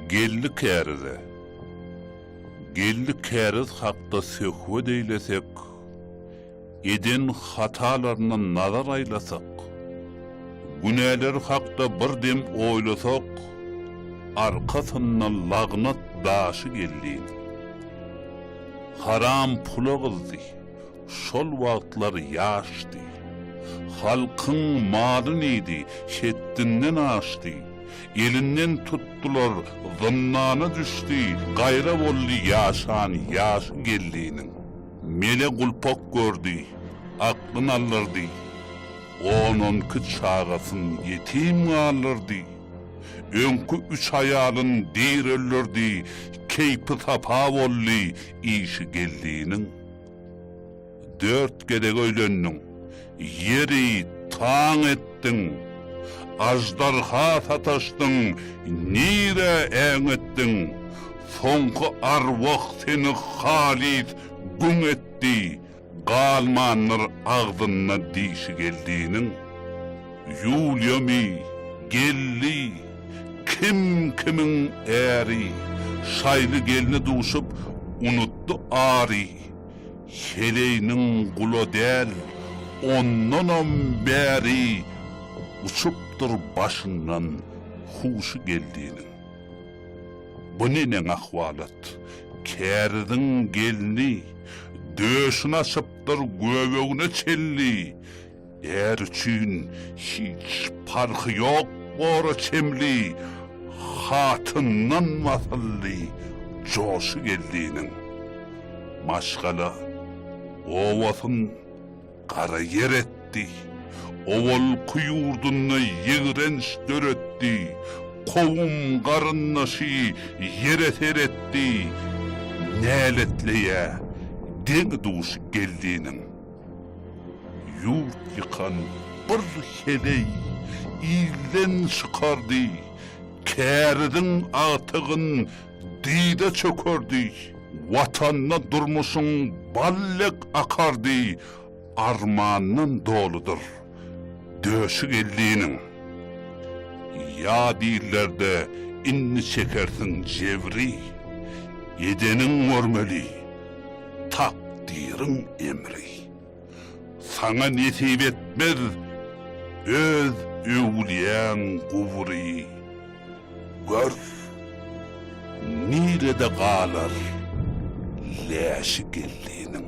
Geldi kärize. Geldi käriz hakda söhbet eýlesek, eden hatalaryna nazar aýlasak, günäleri hakda bir dem oýlasak, arkasyndan lagnat daşy geldi. Haram pula gyzdy, Şol wagtlar ýaşdy. Halkyň maly neydi, hetdinden aşdy. Elinden tutdular, zyndana düşdi, gaýra boldy ýaşan ýaşy gelli'niň. Mele gulpak gördi, aklyn aldyrdy. On-onki çagasyn ýetim galdyrdy. Öňki üç aýalyn dir öldürdi, keýpi-sapa boldy işi gelli'niň. Dört gezek öýlendiň. Ýeri taň etdiň. Aždarha sataşdyň, nirä äňetdiň. Soňky arwah seni halys güň etdi, galmandyr agzynda dişi geldiniň. Ýuliýamy, gelni, kim kimiň äri, Şaýly gelne duşup, unutdy ary. Heleýniň gula däl, ondanam bäri, Uçupdyr başyndan huşy geldiniň. Bu neneň ahwalat, käriziň gelni, Döşüni açypdyr göbegine çelli, Är üçin hiç parhy ýok bora çemli hatyndan wasylly joşy geldiniň. Maşgala obasyn gara ýer etdi. Owalky ýurdunda ýigrenç döretdi. Kowum garyndaşy ýere seretdi. Näletleýä deňi-duşy geldiniň. Ýurt ýykan bir heleý ilden çykardy, Käriziň agtygyn dyza çökerdi. Watanda durmuşyň bal dek akardy, Armandan doludyr. Döşi geldiniň. Ýa dillerde indi çekersiň jebri, Edeniň görmeli, takdyryň emri. Saňa nesip etmez öz öwlüýäň gubury, Gör, nirede galar läşi geldiniň.